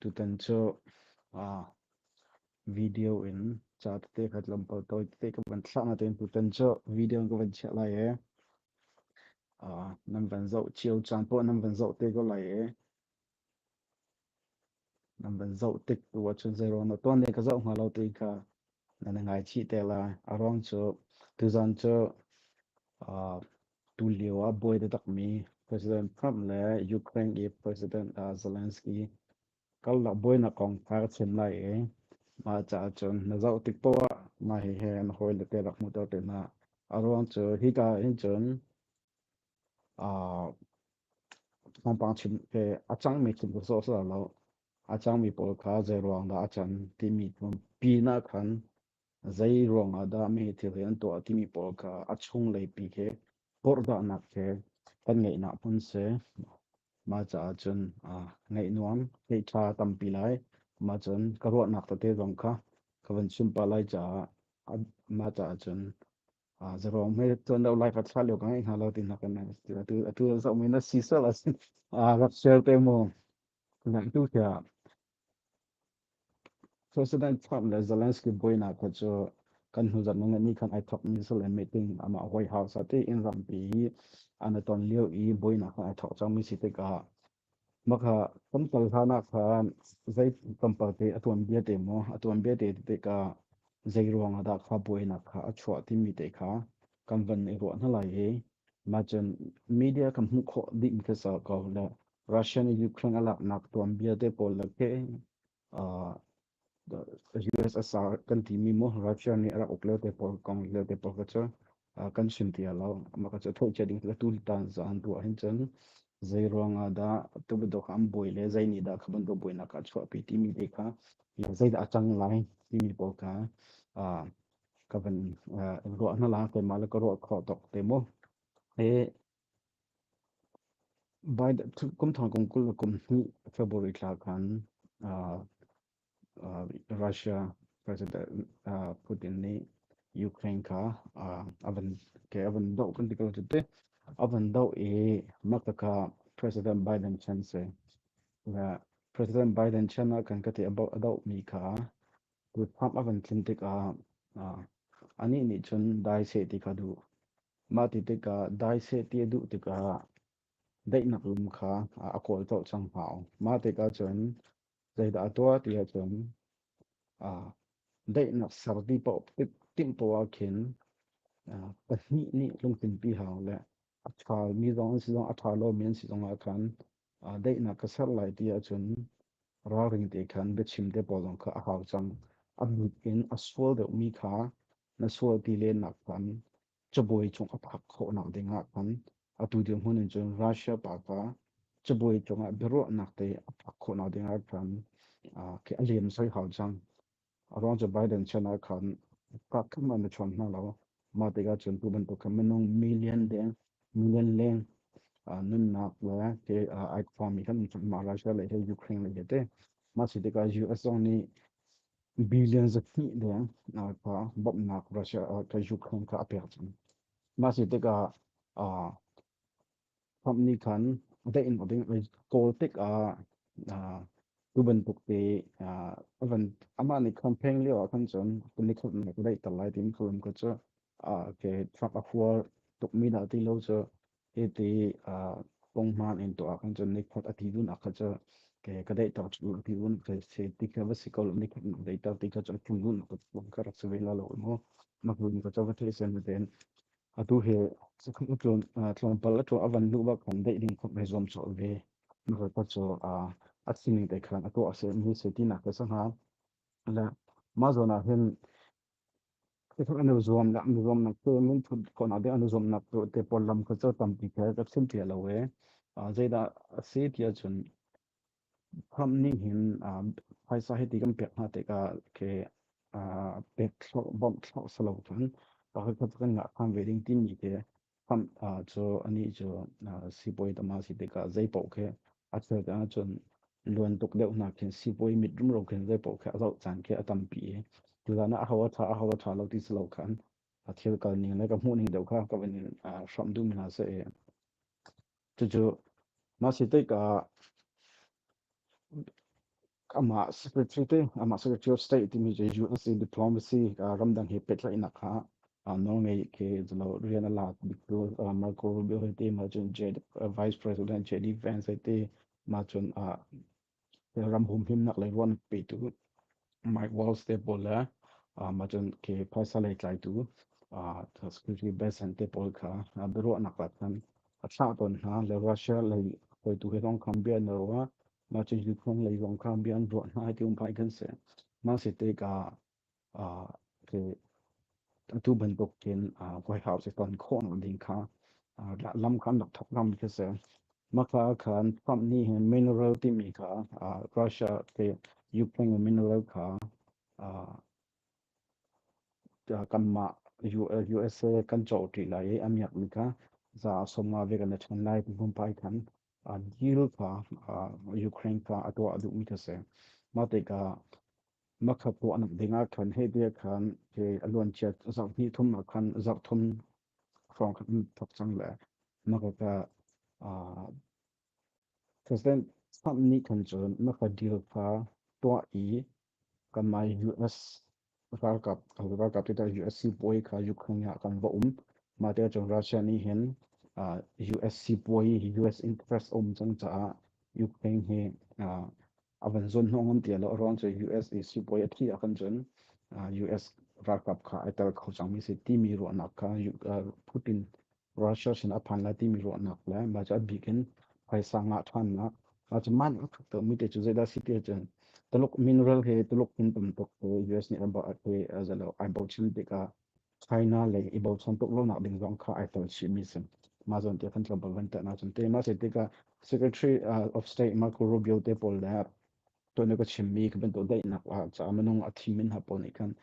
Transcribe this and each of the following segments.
Tutan cu video in ca tete ka van photo tete ka van thlah. Natein tutan cu video in ka van chiah lai i nan van zoh cio caan poh nan van zoh te ko lai i nan van zoh tik tu ahcun zeirawl na tuan i ka zoh hnga lo tiin ka nan i ngaichih te lai. A ruang cu tuzan cu Tulio ah buai taktakmi President Trump le Ukraine i President Zelensky karlak buainak kong kha ka chim lai i mah caah cun na zoh tik paoh ah mah hihi na hawile te rak hmuh ter te hna. A ruang cu hika hin cun ah thawngpang chim ke a cangmi chim ka sawhsawh lo. A cangmi pawl kha zei ruang dah a can timi pi nak khan Zei ruangah dah meheh thil hi an tuah timi pawl kha a chunglei pi he porhlahnak he kan ngeihnak hmun si. Mah caah cun ah ngeih nuam, ngeih ṭha tampi lai. Mah cun ka ruahnak tete zong kha ka van chim pah lai caah a mah caah cun ah zarong hme tuan lo lai ka thla lio ka ngeih hna lo ti hna kan atu atu zoh mi na si sal asin ah rak share te mu. Nak tu tiah President Trump le Zelensky buainak kha cu kan hnuzat nu ngeih ni khan ai thawk mi sal meeting amah White House ah tiin rampi hi an i ton lio i buainak kha ai thawk cang mi si tikah maka tamtal hlanah khan zei tampalte a tuan bia te maw a tuan bia te tikah zei ruang ah dah kha buainak kha a chuah timi te kha kan van i ruah hna lai i mah cun media kan hmuh khawh ding ka sa ko le Russia nih Ukraine a laknak tuan vialte pawl le ke US a sar kan timi mu Russia nih a rak uk leo te pawl kong leo te pawl ka cu kan sin tia lo ma ka cu thoh che ding la tu tan zan ruah hin cun zei ruang ah dah tu bedok am boi le zei ni dah kha ban do boi nak ka chuah pi timi te kha zei dah chang lai timi pawl ka ka ban ruah na la ke ma le ka ruah kho tok te mo e By kum thong kum kul le kum hnih February thla khan uh, uh, Russia President uh, Putin nih Ukraine kha uh, avan ke avan doh kan ti ko te avan doh i makta kha President Biden chan se và President Biden chan ah kan ka ti about doh mi kha Kutphap a kan tlun tikah anih nih cun dai seh ti kha duh. Mah ti tikah dai seh ti a duh tikah daihnak lum kha a kawl colh cang hna. Mah tikah cun zeidah a tuah ti ahcun daihnak ser ti paoh timhtuah khin pahnih nih lungtlinpi hau le a ṭhami zong an si zong a ṭha lomi an si zong ahkhan aa daihnak ka ser lai ti ahcun ralring te khan biachim te pawl zong kha a hau cang. A mit in a sual deuhmi kha na sual ti len nak khan cabuai cung a phak khawhnak dingah khan atu dirhmun in cun Russia pa kha cabuai cungah biaruahnak te a phak khawhnak dingah khan a lem soi hau cang. Arong cu Biden chan ah khan kakthum an i chuan hna lo. Mah tikah cun tu bantuk khan minung million deng, million leng nunnak le ke ai khuami kan mah Russia le hi Ukraine le hi te. Mah si tikah US zong nih billion zahnih deng ka bawmhnak Russia ka Ukraine ka a pek cang. Mah si tikah Trump nih khan deih in ding kawl tik ah tu bantuk te avan amah nih campaign lio ah khan cun nikhat na ka daihter lai tiin khalam ka cu ke Trump a hual tukmi dah ti lo cu hiti pongman in tuah khan cun nikhat a ti dun ak cu ke ka daihter cu a ti dun ke se ti ka va si ko nikhat na daihter ti ka cu a thun dun ka rak si ve la lo mu ma hun ka cu va the sen ten atu he tlawmpal a tuah a van hnu bak kan deih ding khop he zuam chaw ve na ka chaw a a sining te khan a tuah se ni se ti na ka sa ha la ma zo na hin te khan anu zuam la anu zuam na ke min thu ko na de anu zuam na to te por lam ka chaw tam pi ka ka sim tia lo we a zaida a se tia chun Khamh nih hin ah phaisa hi ti kan pek hna tikah ke ah pek thlawh, bawmh thlawh si lo cun pakhatkhat kan ngah kham ve ding timi te khamh ah cu anih cu ah sibawi tam a si tikah zeipaoh khi a cheu te ahcun luan tuk deuh hna khin sibawi mit rumro khin zeipaoh khi a zoh caan khi a tampi i cucan ah a ho a ṭha a ho a ṭha lo ti si lo khan a thil kal ning le ka hmuh ning deuh kha ka van in ah hramh duhmi hna seh i. Cucu masi teika amah secretary amah secretary of state timi cu US diplomacy ramdang he pehtlaihnak kha Norway ke zelo rian a lak biktu Marco Rubio hete ma cun vice president JD Vance hete ma cun ram humhimnak lei ruan petu Mike Walls te pawl le macun ke phaisa lei tlaitu security basin te pawl kha biaruahnak ah khan a thlah tawn hna le Russia lei hoitu he zong khan bia na ruah macun Ukraine lei zong khan bia an ruah hna hi ti um pai kan si ma si te ka atu bantuk hin koi hau si ton khawng ding kha lam khan rak thok ngam khi si maka khan Trump nih hin mineral timi kha Russia ke Ukraine mineral kha kanmah USA kan cho ṭi lai i a miak mi kha za somma ve kan ṭhan lai hmun pai khan deal kha Ukraine kha a tuah a duh mi khi si mate ka makha puahnak dingah khan hehbia khan ke a luanciat zarh hnih thum ah khan zarh thum hrawng khan thok cang le makaka President Trump nih khan cun makha deal kha tuah i kamai US ralkap ralkap kita US sipuai kha Ukraine ah kan va um mate cun Russia nih hin US sipuai US interest um cang caah Ukraine hi a van zon hnong um tia lo ruang cu US i sipuai a thi a kan cun US ralkap kha ai tel kho cangmi si timi ruahnak kha Putin Russia sin a phan lai timi ruahnak le ma cu a bik in phaisa ngah than na ma cu man a thuk to mi te cu zeidah si te cun tuluk mineral he tuluk min pum tuk US nih a ba a kwe a zalo ai bo chim tikah China le i bochan tuk lonak ding zong kha ai tel chihmi si. Mah zawn te kan tlawmpal van tah na cun te. Mah se tikah Secretary of State Marco Rubio te pawl le tuan ka chimmi ka bantu daihnak ah ca minung a thim min ha pawl nih khan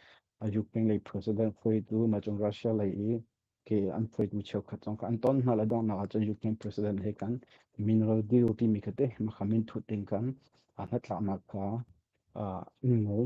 Ukraine lei president phoitu ma cung Russia lei i ke an phoitu cheukhat zong kha an ton hna la donnak ahcun Ukraine president he kan mineral deal timi kha te makha min thut ding kan hnatlaknak kha ngol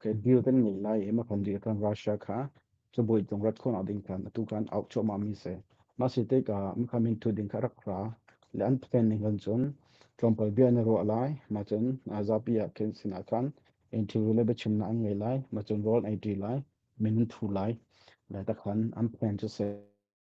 Kan deal kan ngei lai hi ma kan dir kan Russia kha cu boi tung rat khona ding kan atu kan out cho ma mi se ma si te ka ma kan min thu ding ka rak ra le an pen ning kan chun tlompal bia na ro lai ma chun zapi ya ken sina khan interview le bechim na an ngei lai ma chun rol ai di lai min thu lai le ta khan an pen chu se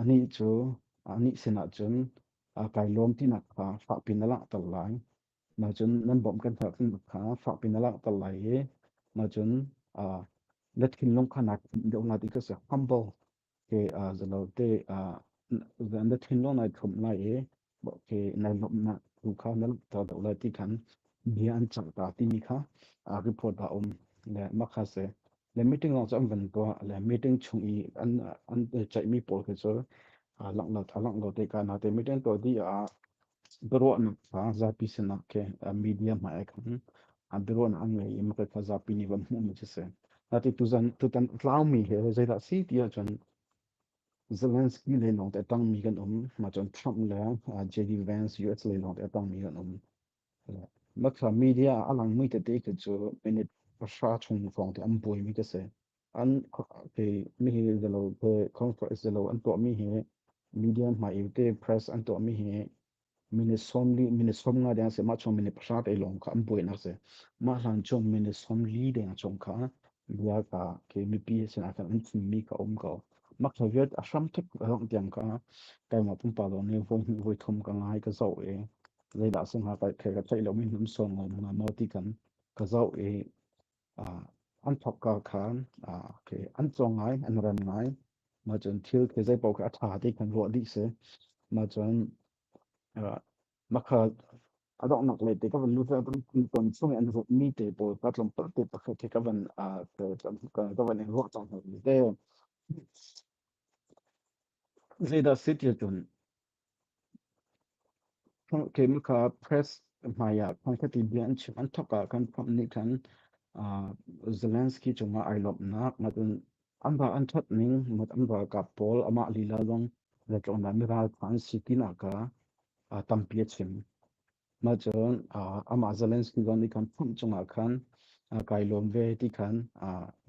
Anih cu anih sinah cun, aa kai lawm tinak kha fakpiin a langhter lai. Nacun nan bawmh kan herh tinak kha fakpiin a langhter lai i nacun aa na thinlung kha naa khinh deuh lai ti ka si. Humble ke aa zalote aa na thinlung naa thlum lai i Okay, nai lomnak tu kha na ta do la ti khan bia an chang ta ti mi kha a report ba um le makha se le meeting long cham van ko le meeting chung i an an chai mi pol ke chol a lang na tha lang lo te ka na te meeting to di a bro na fa za pi se na ke media ma ek a bro na an ngai ma ka kha za pi ni van mu ma che se na ti tu zan tu tan tlau mi he zai da si ti a chon Zelensky le lawng te tangmi kan um. Ma cun Trump le uh, JD Vance US le lawng te tangmi kan um. Maka media a lang mi te te ke cu minute pasha chung kong te an boi mi ka se. An ke mi hi zelo ke conference zelo an to mi hi media ma yu te press an to mi hi minute som li minute som nga deng se ma chong minute pasha te long ka am boi nak se ma hlan chong minute som li deng chong ka lua ka ke mi pi se na kan tin mi ka om ka ma ka vet a sham thek rong tiang ka kai ma pum pa lon le voi voi thom ka ngai ka zau e le da se nga kai kai ka chai lo min hum som lo na no ti kan ka zau e an thawkka kha an caw ngai, an rem ngai. Mah cun thil khi zeipaoh khi a ṭha ti kan ruah dih si. Mah cun mah kha a donghnak le ti ka van nuclear ton chung i an ruahmi te pawl ka tlawmpal te pakhat hi ka van ka van in ruah cang hna te. Zeidah si ti cun Kei mah kha press hmaiah hmangkhat i bia an chim. An thawk ah kan Trump nih khan Zelensky cungah ai lawmhnak ngakinn an va an thawt ning ngak an va kap pawl amah lila lawng le tlawnah mi ralṭha an si tinak kha tampi a chim. Mah cun amah Zelensky zawn i kan phomh cungah khan kai lawm ve ti khan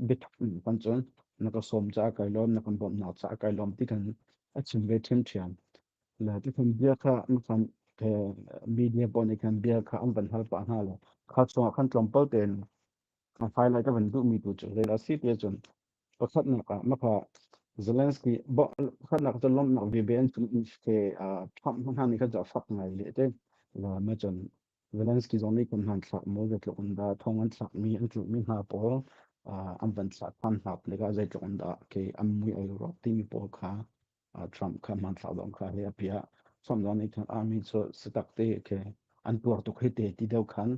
biatak in kan cun na ka sawm caah kai lawm, na kan bawmhnak caah kai lawm ti kan a chim ve ṭhiamṭhiam. Le ti khan bia kha an khan media pawl nih khan bia kha an van hal pah hna le kha chungah khan tlawmpal tein a highlight a van duhmi tu cu zeidah a si tiah cun pakhatnak ah maka Zelensky pakhatnak cu lomnak vive an tun ke Trump hna nih kan fak ngai le te ma chan Zelensky zong nih kun han thlak mo zetluk an da thong an thlak mi an tlu mi hna pawl an van thlak han hnak le ga zeitluk an da ke am mui ai ro ti mi pawl kha Trump kha hmanthlak zong kha he a piah. Trump zong nih khan army cu sitak te ke an tuar tuk hi te ti deu khan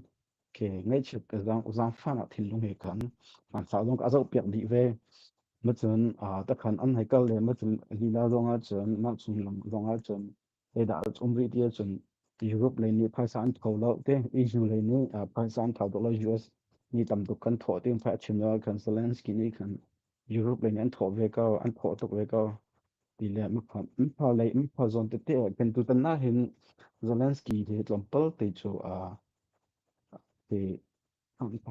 ke ngaichip ke zang zangfan ah thinlung he khan hmanthlak zong a zoh piak dih ve. Macun takhan an hai kal le macun lila zong ah cun mangchung lam zong ah cun Zeidah a um rih ti ahcun Europe lei nih phaisa an tho lo te, EU lei nih phaisa an thau tuk lo, US nih tam tuk kan thawh ti fa a chim lo kan Zelensky nih kan Europe lei nih an thawh ve ko, an thawh tuk ve ko ti le mipha mipha lei mipha zawn tete kan tu tan ahhin Zelensky hi tlawmpal te cu a ti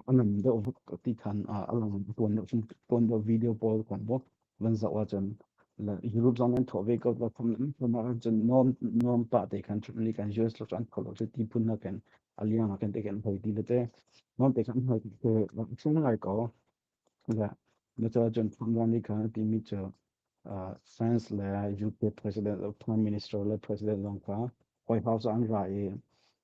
a nam deuh ti khan a lang tuan deuh tuan deuh video pawl kan bo van zoh ah cun le Europe zong an thawh ve ko ba khum lam kuma cun norm norm pa te khan chun li kan US lo chan kholo che ti pun na kan aliang a kan te kan hoi ti le te norm te khan hoi te chung lai ko Yeah. Na caah cun Thawngmah nih khan a timi cu uh, France le UK president le prime minister le president lawng kha White House ah an ra i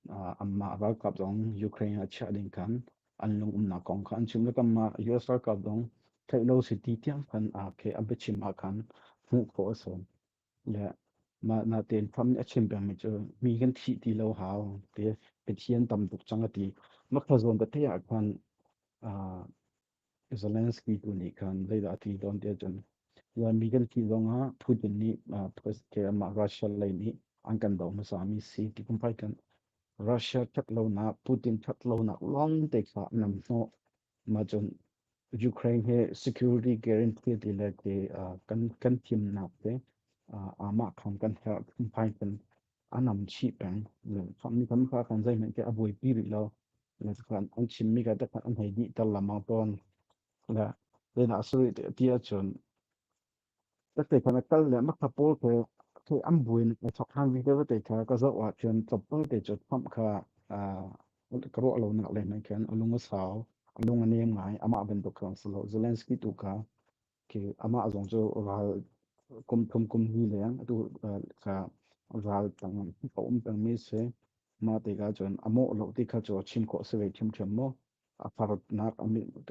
uh, anmah ralkap zong Ukraine a chiah ding khan an lung umnak kong kha an chim le kanmah US ralkap zong theih lo si ti tiang khan a ke a biachim ha khan hmuh khawh a si. le mah na tein fam nih a chim pengmi cu mi kan thih ti lo hau ti Pathian tam tuk cang a ti ma khazawn te ah khan Zelensky tu nih khan zeidah a ti tawn ti ahcun mi kan thih zongah Putin nih mah Russia lei nih an kan doh hmasami si ti kum fai kan Russia ṭhat lonak Putin ṭhat lonak lawngte kha nam hnawh Mah cun Ukraine hi security guarantee ti le ti kan kan thimnak te amah khan kan herh phunphai kan anam chih peng mi tam kha kan zeihmanh ke a buaipi rih lo le khan an chimmi ka takhat an hei dih tar lamang tawn le zeinak a sarih ti ahcun Ka te khan a kal le ma kha pawl ke ke am buin a chok han vi te te kha ka zo ah chuan chop pal te chu kham kha a ka ro lo nak le nan khan alung a sau alung a nem ngai ama ben to khan salo Zelensky tu ka ke ama zong chu ral kum thum kum hi leng tu ka ral tang ko um tang mi se ma te ka chuan amo lo ti kha chu chim ko se ve chim chim mo a farnak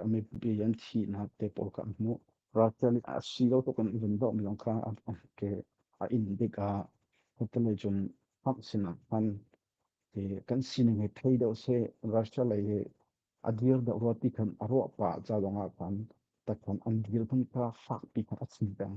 a mipi an thihnak te pawl kan hmuh. Russia nih a si lo tuk in vun doh mi zong kha ke a in dik ah hotelei cun khamh sinah khan kan sining he thei deuh seh Russia lei he a dir deuh rua ti khan a ruah pah ca lawng ah khan ta khan an dir khan kha fak pi khan a sim peng.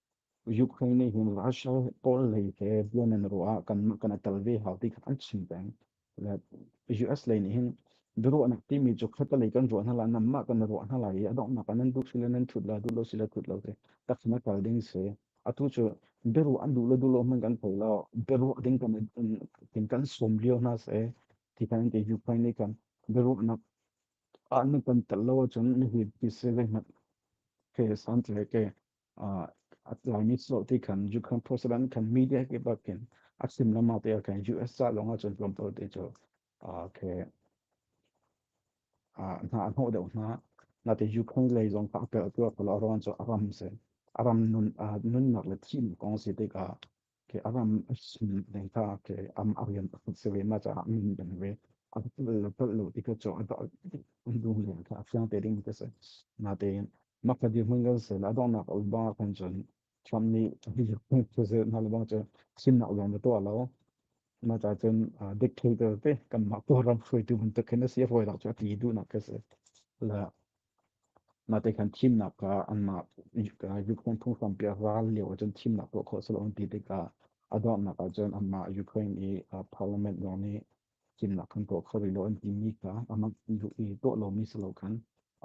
Ukraine nih hin Russia pawl lei he buan an ruah ah kan mah kan atal ve hau ti kha an chim peng. Le US lei nih hin biaruahnak timi cu khata lei kan ruah hna la nam mah kan ruah hna la i a donghnak ah nan duh sila nan thut la duh lo sila thut lo te tak na kal ding si atu cu biaruah an duh lo duh lo hman kan thei lo biaruah ding kan kan kan som lio hna se ti kan ke Ukraine nih kan biaruahnak an kan tel lo cun ni hi pise le mat ke san tle ke a tlaimi sawh ti khan ju khan porcelain khan mi te ke bakin a sim lama te khan US sa longah cun tlawm to te chu ke hna a hnawh deuh hna na te Ukraine lei zong kha a pel tu ko lo ron chu a ram se a ram nun nun nak le thim kong si te ka ke aram asin data ke am arian se ve ma cha min ben ve an pal pal lo ti ka cho da undu le ka fiang te ding te se na te ma ka di hun gal se na dong na ka ba kan jon cham ni bi hun se se na le ba cha sin na lo na to lo ma cha chen dik thil te te kan ma ko ram hrui tu hun te khen se foi la cha ti du na ke se la Mah khan thimnak ah anmah Ukraine phunglam piah ral lio ahcun thimnak tuah khawh a si lo an ti tikah a donghnak ahcun anmah Ukraine i Parliament zong nih thimnak kan tuah kho rih lo an timi kha amah i tuah lomi si lo khan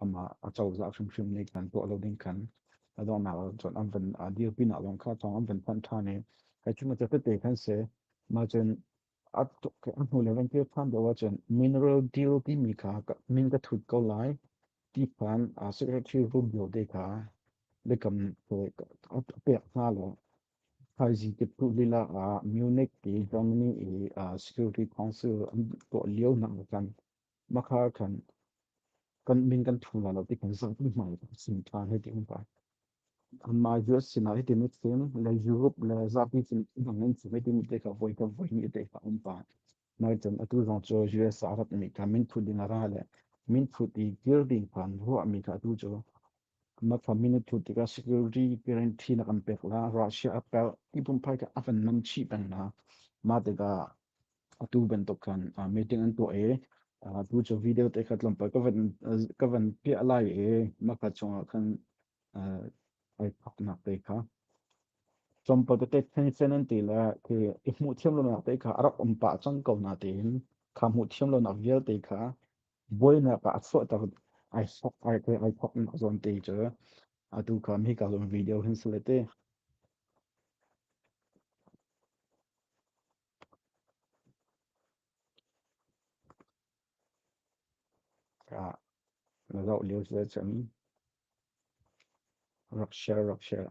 amah acozah hrimhrim nih kan tuah lo ding khan a donghnak ahcun an van dirpinak lawng kha thawng an van thanh ṭhan i hi cu ma ca tete khan si, mah cun a hnu le van kir than deuh ahcun mineral deal timi kha min ka thut ko lai ti phan secretary Rubio te kha lekam a pek hna lo thaizii tiptu lila ah Munich i Germany i security council an tuah lio nak kan Makhar kan kan min kan thang la lo ti kan zang mi mai sim ta he ti um kai an mai ju sin na ti mi sim le Europe le zapi sin nang nan sin ti mi te ka voi ka voi mi te ka um pa nai chen atu zong cho US arab mi ka min thu ding ara le min thu ti building kan ro mi ka tu cho ma family thu ti ka security guarantee na kan pek la Russia apel ipum pai ka avan nam chi ban na ma te ka Atu bantuk khan meeting an tuah i tu cu video te kha tlawmpal ka van ka van piah lai i maka chungah khan ai thaknak te kha chompa te theng sen an ti le ke i hmuh thiam lonak te kha a rak um pah cang ko na tiin kha hmuh thiam lonak vialte kha buainak ah a chuahter ai thok ai ai thok nak zawn te cu atu kha mi ka zo'n video hin sale te Na zoh lio cu ahcun rak share rak share.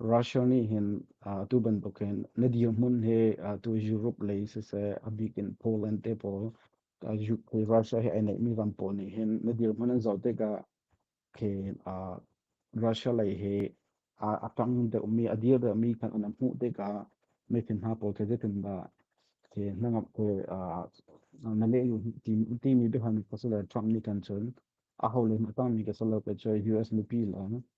Russia nih hin atu bantukin na dirhmun hi tu Europe lei siseh a bikin Poland te pawl Ukraine Russia hi ai neihmi ram pawl nih hin na dirhmun an zoh tikah khi Russia lei hi a ṭang deuhmi a dir deuhmi kan na hmuh tikah meithin hna pawl khi zeitindah khi na ngamh khi na lehlu timi biahan ka si le Trump nih kan cun aho le nih a tangmi ka si lo kei cu US mipi lawng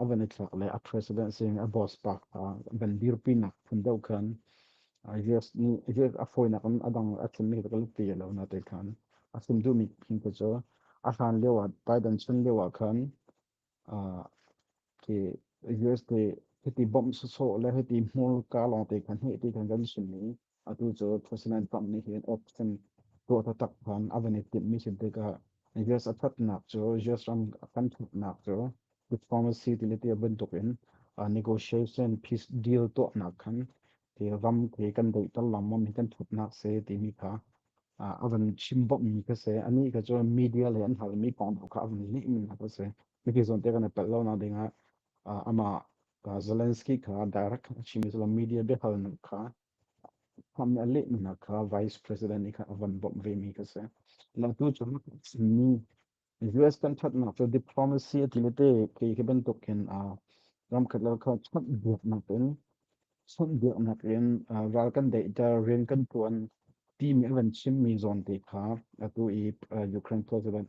a van i thlak le a president sing a boss pa van dirpi nak phun deuh khan yes nih yes a foinak in a dang a chim mi ka ti lo na te khan a sum du mi phin ko cho a hlan leo a Biden chun leo a khan ke US te hiti bomb so so le hiti mur ka long te khan he te khan kan sun ni atu cu Thosinan pang nih hin uk cun tuah taktak khan a van i timh mi sin tikah US a thatnak cu US ram a kan thutnak cu diplomacy ti le ti bantuk in negotiation peace deal tuahnak khan ti ram te kan doitar lamam hi kan thutnak se timi kha a van chim bok mi ka se ani ka cu media le an hal mi kong kha a van nih min hak se mi ki zon te kan pel lo na ding ah amah Zelensky kha direct a chim i cun media biahal nu kha ham nih a lehmi hna kha vice president i kha a van bawmh vemi kha si. Latu cun mi US kan thatnak cu diplomacy a ti le te kei hi bantuk hin ramkhat lal kha chawnh buaknak in chawnh buaknak in ral kan deihter rian kan tuan timi a van chimmi zawn te kha atu i Ukraine president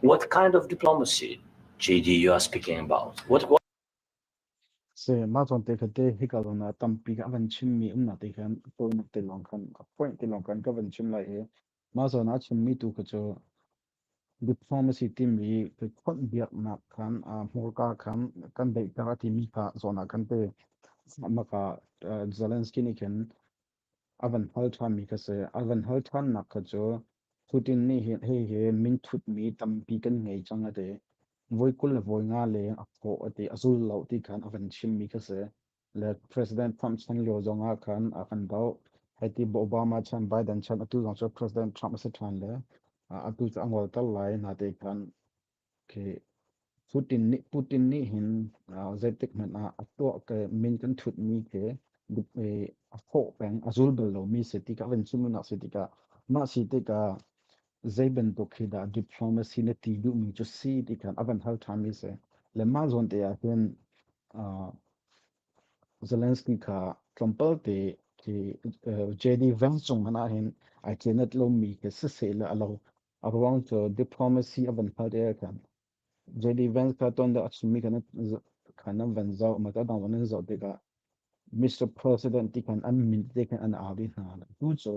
What kind of diplomacy, JD, you are speaking about? What, what se ma chon te kha te hi ka lona tampi ka van chim mi um na te khan ko te long khan point te long khan ka van chim lai e ma chon a chim mi tu ka cho diplomacy ti mi ke khon biak nak khan a mor ka khan kan dei ka ti mi ka zona kan te maka Zelensky ni khan A van hal ṭhanmi kha si. A van hal ṭhannak kha cu Putin nih hi- hihi minthutmi tampi kan ngei cang a ti. Voi kul le voi nga leng a kawh a ti. A zul lo ti khan a van chimmi kha si. Le President Trump chan lio zong ah khan a kan doh. Hiti Obama chan Biden chan atu zong cu President Trump a si ṭhan le a- atu cu a ngolter lai na ti khan Okay. Putin nih Putin nih hin uh, zeitik hmanh ah a tuah ke min kan thut mi ke eh, a fawh peng a zul bal lo mi si tikah van cu nak si tikah mah si tikah zei bantuk khi dah diplomacy na ti duh mi cu si tikhan a van hal tha mi se le mah zawn te ah hin uh, Zelensky kha tlawmpal te ki uh, JD Vance chung hana hin ai chenat lo mi ke se se la alo A ruang cu diplomacy a van hngalh i kan JD Vance kha ton da a chimmi kan kan an van zoh ma ta dang nan zoh tikah Mr. President ti kan an min te kan an au hna tu cu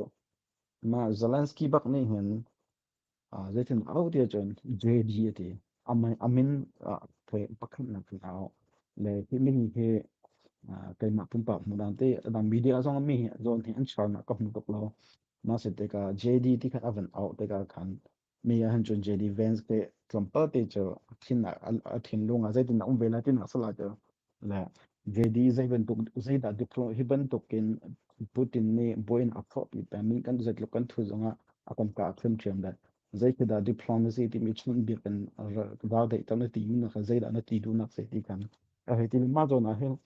ma Zelensky bak nih hin zeitin au ti cun JD ati amin amin pakhat nak au le hi min hi keimah pumpak hmuh dan te media zong mi hi zawn hi an char na ka hmu tuk lo Mah si tikah JD ti kha a van auh tikah khan mi ahhin cun JD Vance te tlawmpal te cu a thinnak a thinlung ah zeitin a um ve lai tinak salah cu le JD zei bantuk zeidah diklo hi bantukin Putin nih buin a phopi pemi kan zeitluk kan thu zongah a komka a khrim thiam dat zeikhi dah diplomacy timi chun bik in raldeih ter na ti mi na zeidah na ti dunak sei ti kan a hei ti mah zawn ah hin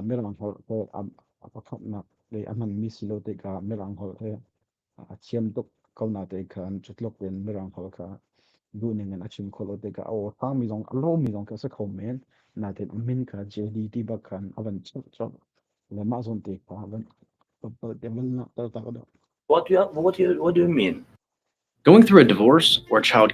mirang holh he a pakhatnak le a hmanmi si lo tikah mirang holh he a thiam tuk ko na te khan cutluk in mirang holh kha duning in a chim kholo te ka o tangmi zong a lomi zong ka se kho men na te min ka JD ti bak khan a van chop chop le ma zon te ka van te man na ta ta do What do you what do you, what do you mean? Going through a divorce or child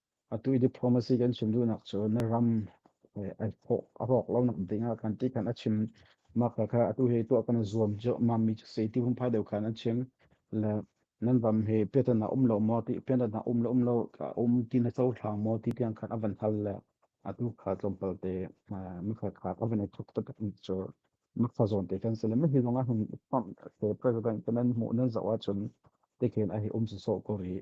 Atu i diplomacy kan chim duhnak cu na ram a rawk lonak ding ah kan ti khan a chim. Mah kha atu he tuah kan zuam cu mam mi cu sei ti hung phai deuh khan an chim. Le nan ram he piatan a um lo maw ti piatan a um lo um lo a um ti na co thlang maw ti tiang khan a van hal le atu kha tlawmpal te mi kha kha ka van i thuk tak mi cu mi kha zawn te khan se le mi hi zong a hun president kan nan hmuh nan zoh ahcun te khin a hi um so so ko rih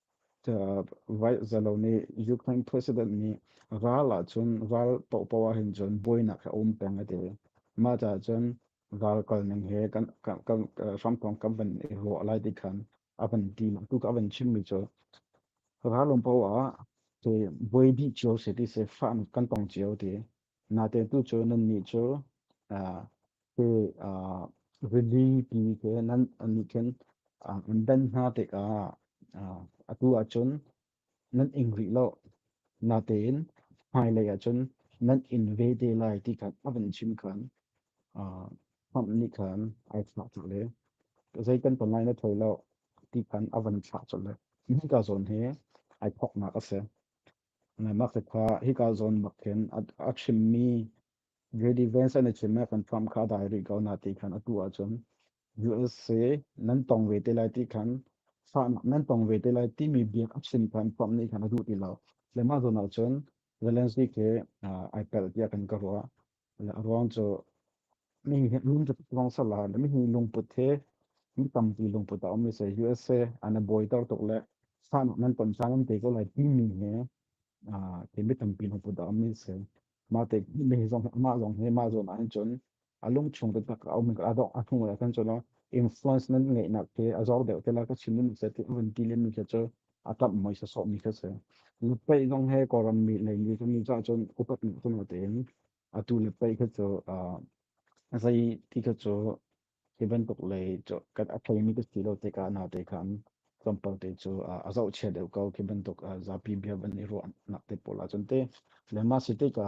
vaihzalo nih Ukraine president nih ral ah cun ral paohpaoh ah hin cun buainak a um peng a ti mah caah cun ral kalning he kan hramthawng kan van i ruah lai ti khan a van ti tuk a van chimmi cu ral um paoh ah buai dih cio si ti se fa kan tong cio ti Nate tu cu nan nih cu te rili ti ke nan nih khin an ben hna tikah atu ahcun nan ing rih lo. Natein hmailei ahcun nan in ve te lai ti khan a van chim khan Trump nih khan ai thlah colh le zei kan ton lai na thoi lo ti khan a van thlah colh le hika zawn hi ai thawknak a si. Ngaimakte kha hika zawn bak khin a chimmi Redivance an i chim i kan Trump kha a dai rih ko hna ti khan atu ahcun USA nan tong ve te lai ti khan fahnak nan tong ve te lai timi biak a chim khan Trump nih khan a duh ti lo. Le mah zawn ahcun Zelensky khi ai pelh tiah kan ka ruah. ruang cu mihi lungput ruang sala le mihi lungput he mi tampi lungput a um se USA an boi tor tuk le san nan ton sang am te ko lai ti mi he ke mi tampi lungput a um se ma te mi zong ma zong he ma zon an chun a lung chung te tak a um ka adok a thung la kan chona influence nan ngai nak ke a zor deuh te la ka chin mun se ti un ti le mi ke cho a tam mui sa sok mi kha si na pei zong he kawram mi leng ni kan cha chun upat ni kun te in atu na pei kha chu a sai ti kha chu hi ban tuk lei cho kat a thei mi ka ti lo te ka na te khan champal te chu a zau che deu ko ki ban tuk zapi bia ban ni ru nak te pola chun te le ma si te ka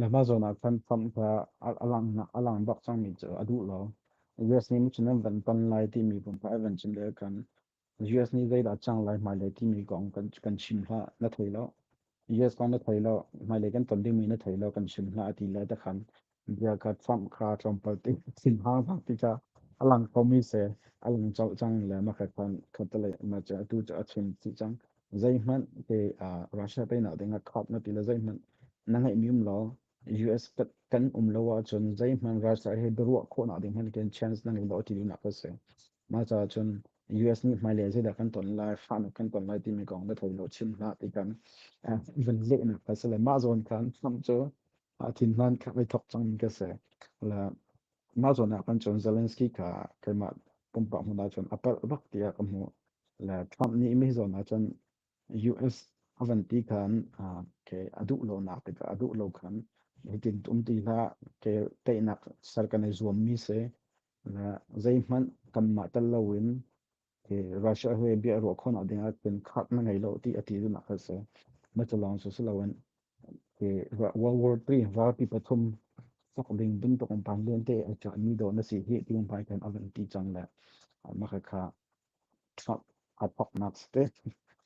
Le mah zawn ah khan famh hla a langnak a lang bak cangmi cu a duh lo. US nih cun an van ton lai timi pum kha an van chim le kan US nih zeidah cang lai hmai le timi kong kan kan chim hlah na thei lo. US kong na thei lo hmai le kan ton dingmi na thei lo kan chim hlah a ti le ta khan bia ka famh kha tlawmpal ti sin hang hang ti ka a lang komi se a lang chau cang le ma kha khan khatale ma cha tu cha a chim si chang Zeihmanh te ah Russia teinak ding a khap na ti le zeihmanh na ngeih mi um law US kan um lo ah cun zeihmanh Russia he biaruah khawhnak ding hman ken chance na ngei lo ti dunak ka si. Mah caah cun US nih hmailei zeidah kan ton lai, fahnak kan ton lai timi kong na thoi lo chin hna ti kan vun lehnak ka si le mah zawn khan Trump cu thin hlan khat i thok cang ka si. La mah zawn ah kan cun Zelensky kha keimah pumpak hmun ah cun a palh bak tiah ka hmuh le Trump nih mi zawn ah cun US a van ti khan ke a duh lo nak tikah a duh lo khan hitin tum ti hlah ke teinak ser kan i zuam mi se le zei hmanh kan mah tel lo in Russia he bia ruah khawnak ding ah cun khak na ngei lo ti a ti dun ah se ma cu lawng su lo in World War III vapi pathum sok ding bin tuk um pan luen te a cha mi do na si hi ti um pai kan avan ti chang le maka kha Trump ad hoc nak ste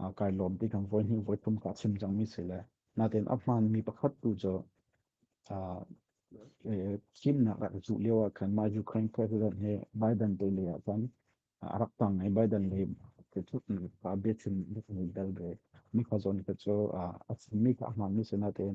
aa kai lawm ti kan voi hnih voi thum ka chim cangmi si le natin a hmaanmi pakhat tu cu thimnak a cuh lio ah khan mah Ukraine president he Biden te lei ah khan a rak tang i Biden le ke thut ka biachim bel ve mi kha zawn ka cu a chimmi ka hmaanmi si natin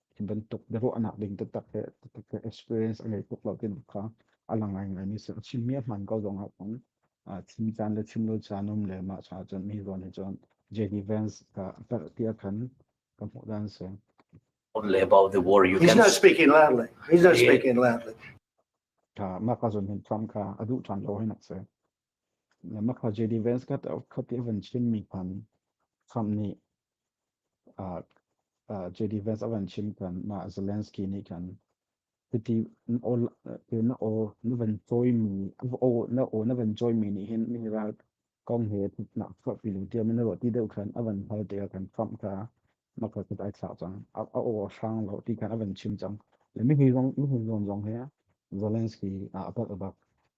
hi bantuk biaruahnak ding taktak he experience a ngei tuk lo tinak kha a lang ngaimi si a chim mi a hman ko zong ah cun chim caan le chim lo caan um le mah cha cun mi zawn hi cun Jenny Vance ka tiah khan ka hmuh dan si only about the war you He's can not speaking loudly. He's not speaking loudly. ka mah ka zon hin Trump kha a duh tan lo hin nak se Mapha JD Vance kha khat i a van chimmi khan Trump nih JD Vance a van chim khan mah Zelensky nih khan hiti na aw na van cawimi na aw na van cawimi nih hin mi ralkong he nak chuahpi lu tiam in na ruah ti deuh khan a van hal tikah khan Trump kha maka kut ai thlak cang a aw a hrang lo ti khan a van chim cang le mi hun zong he Zelensky a apat a bak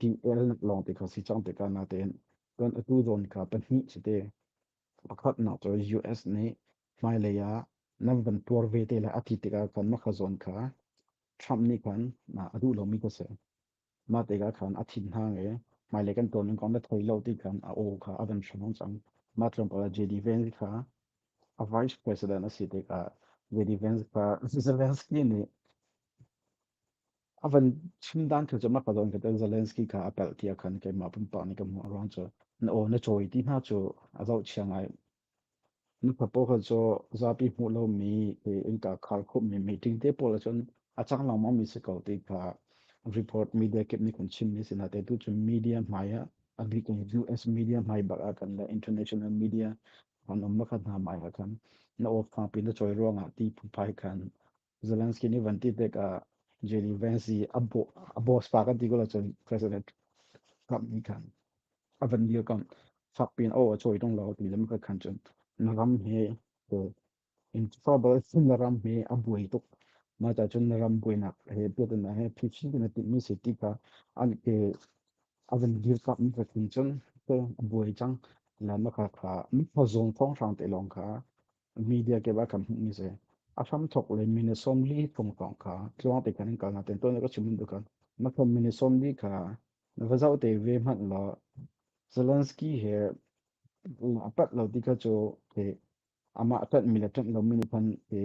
kin el lawng te kha si chang te ka na ten kan atu zon ka pahnih si te pakhat na cho US ne mai le ya nan van tuar ve te la ati te ka kan ma kha zon kha Trump ni khan na adu lo mi ko se ma te ka khan athin ha nge mai le kan ton kon da thoi lo ti khan a o kha avan shamong chang ma Trump ka JD Vance kha a vice president a si te ka JD Vance ka Zelensky ne a van chim dan thu cu ma kadon ka tan Zelensky ka a pel tia khan ke ma pumpa ni ka mu ruang chu na o na choi ti na chu a zau chiang ai na thapo kha cho zapi mu lo mi ke in ka khar khu mi meeting te pol chun a chang long ma mi se ko te ka report media kip ni kun chim mi sina te tu chu media maya agri kung US media mai bak a kan la international media han om ma kha na mai ha khan na o fa pin na choi ruanga ti phun pai khan Zelensky nih van ti pek ah Jerry Vance i a bo a boss pa kan ti ko la cun president Trump nih khan a van dir kam fak pin o a choi tong lo ti lam ka khan cun na ram he in trouble na ram he a buai tuk ma ta cun na ram buai nak he pet na he phi chi na ti mi se ti ka an ke a van dir kam ka khin cun te a buai chang la ma ka kha mi thozong thong sang te long kha media ke ba kam ni se aham thok le mine som li thong tong ka tluang te kan kal na ten to na ka chimin du kan ma thom mine som li ka na va zau te ve mat lo Zelensky he apat lo ti ka cho te ama atat mi la tat lo mini pan te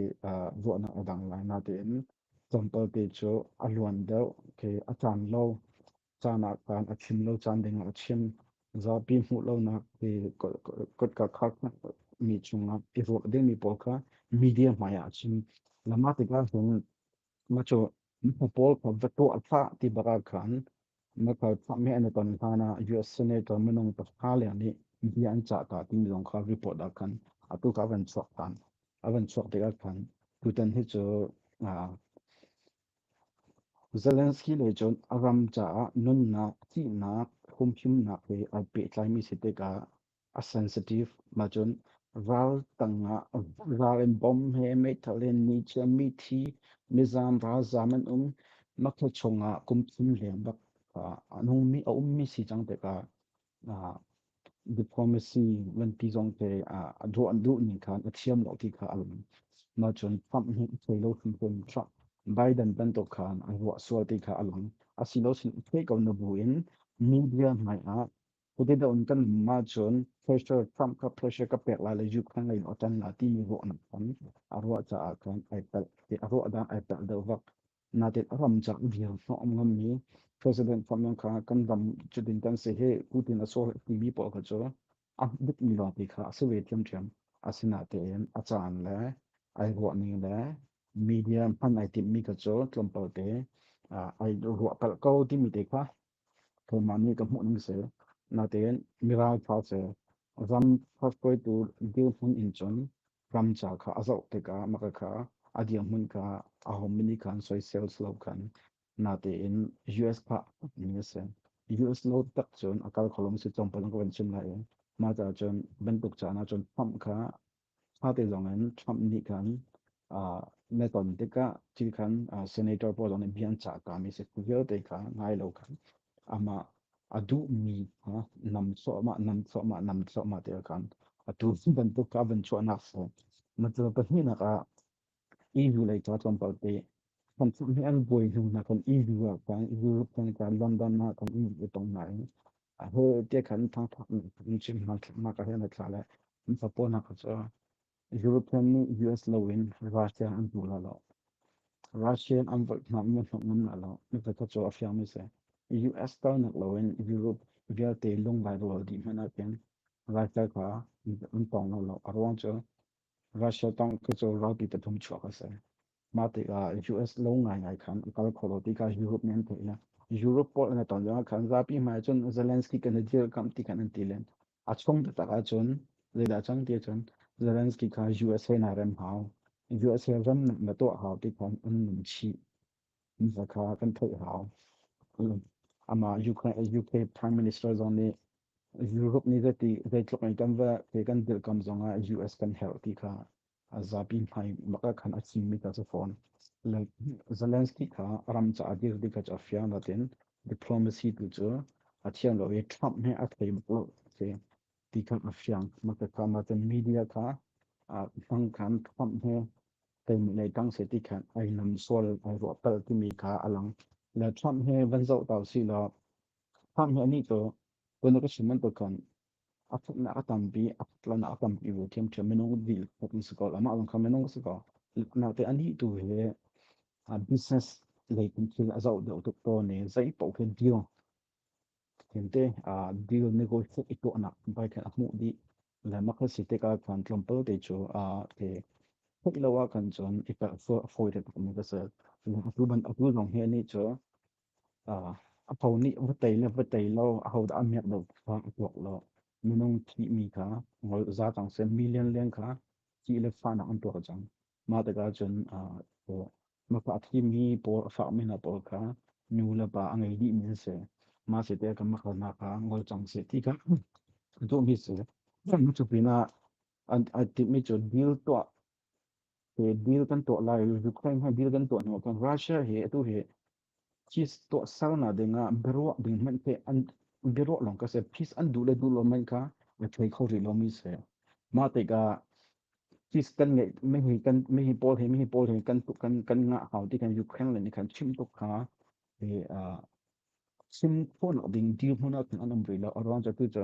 zo na adang la na te in sampal te cho aluan deu ke atan lo caan ah kaan a chim lo caan ding ah a chim zapi hmuh lonak te kotka khak mi chungah i ruah ding mi pawl kha media hmai ah chim lama tikah cun macho paul ka va to atha ti bara khan maka tha me an ton hana US senator manong ta khale ni bi an cha ta tin dong kha report da khan atu ka van chok tan avan chok de khan tutan hi chu Zelensky nih cun a ram caah nunnak, thihnak, humhimnak he ai pehtlaimi si tikah a sensitive hma cun ral tangah ral in bom he meithal in nichiami thi, mizaan ralzaam an um, makhaw chungah kum thum leng bak a ummi a ummi si cang tikah diplomacy nganpi zongte a duh an duh ning khan a thiam lo ti kha a lang ma cun Trump nih thei lo hrimhrim Trump Biden bantuk khan a ruah sual ti kha a lang a si lo sin thei ko na bu in media ngai ah kute da un kan ma cun pressure Trump ka pressure ka pek la le juk khan lain otan la ti mi ruah na khan a ruah ca ah khan ai tal a ruah da ai tal do vak natit ram chak bia no am ngam mi president phom yang kha kan dam chu din tan se he putin a so ti mi po ka chu a bit mi lo ti kha a se ve thiam thiam asina te en a chan le ai ruwa ni le media man ai tim mi ka chu tlumpal te ai ruwa pal ko ti mi te kha Keimah nih ka hmuh ning seh. Natein Mirang fa seh. Ram hrakkoitu dirhmun in cun ram ca kha a zoh tikah maka kha a dirhmun kha a home nih khan soisel silo khan. Natein US fa mi a si. US no tak cun a kal kholong si congpalong ka van chim lai i. Mah ca cun bantuk ca na cun pump kha Hngate zong in Trump nih khan na ton tikah ti khan senator pawl zong nih bia an cah kami si vialte kha ngai lo khan amah a duhmi nam suahmah nam suahmah nam suahmah te khan a tu bantuk kha van chuahnak cu macal pahnihnak ah EU lei ca tlawmpal te kan chuh mi an buai hnu hna kan EU ah kan Europe kan kan London ah kan EU tong ngai a ho te khan thangthak chim hna hna ka hen thla le fapo na ka cho European ni US lo in Russia an tu la lo Russian an vat na mu no ngun la lo ni ka cho a fiang mi se US ta nak lo in Europe vialte lung lai rol di mana pen lai ka ka an tong lo lo a ruang cho Russia tang kacol ralpi pathum chuak a si. Mah tikah US lo ngaingai khan a kal kholo tikah Europe nih an theih na. Europe pawl an ton lengah khan zapi hmai cun Zelensky kan dir kam ti khan an ti len. A chung taktak ah cun zeidah cang ti cun Zelensky kha USA na rem hau. USA ram na tuah hau ti khan an nung chih. Misa kha kan theih hau. Ama UK Prime Minister zong nih Europe nih zeiti zeitluk in kan va ke kan dirhkam zongah US kan herh ti kha a zapi hmai maka khan a chimmi ta cu fawn. Zelensky kha ram caah dir dih kha a fiang latin diplomacy tu cu a thiam lo i Trump he a thei lo ti ti kha a fiang. Maka kha media kha hmang khan Trump he kan nei tang se ti khan ai lam sual ai ruah pal timi kha alang la trump he van zo tau si lo trump he ni to kun ka siman to kan a fut na atampi a fut la na atampi bu thiam thiam menong dil hot su ko lama ang kha menong su ko na te ani tu he a business lei kun thil a zo deu tuk to ne zai po ken deal kente a deal negotiate ito anak bai kan amu di lemak na si tikah khan tlawmpal te cu a ke theih lo ah khan cun i per fawi le tuk mi ka si atu ban atu zong hi ni cu a tho nih va tei le va tei lo a ho dah a miak lo kha a tuak lo minung thih mi kha ngol za cang se million lian kha ki le fa nak an tuak cang Mah tikah cun ah paw mapa a thimi paw a fakmi hna pawl kha nu le pa a ngei dihmi an si. Mah si te kan makal hna kha ngol cang seh ti kha duhmi si. Cu pinah an a timmi cun deal tuah he deal kan tuah lai Ukraine hi deal kan tuah hnu kan Russia hi atu hi cheese tuahser hna dingah biaruah ding hmanh te an biaruah lawng ka si pis an duh le duh lo hmanh kha a thei kho rih lomi si mah tikah cheese kan ngeih mehi kan mehi paul hi mehi paul hi kan kan kan ngah hau ti kan ukraine le nih kan chim tuk kha i chim fawn ding dir hmun ah an um rih lo around cu cu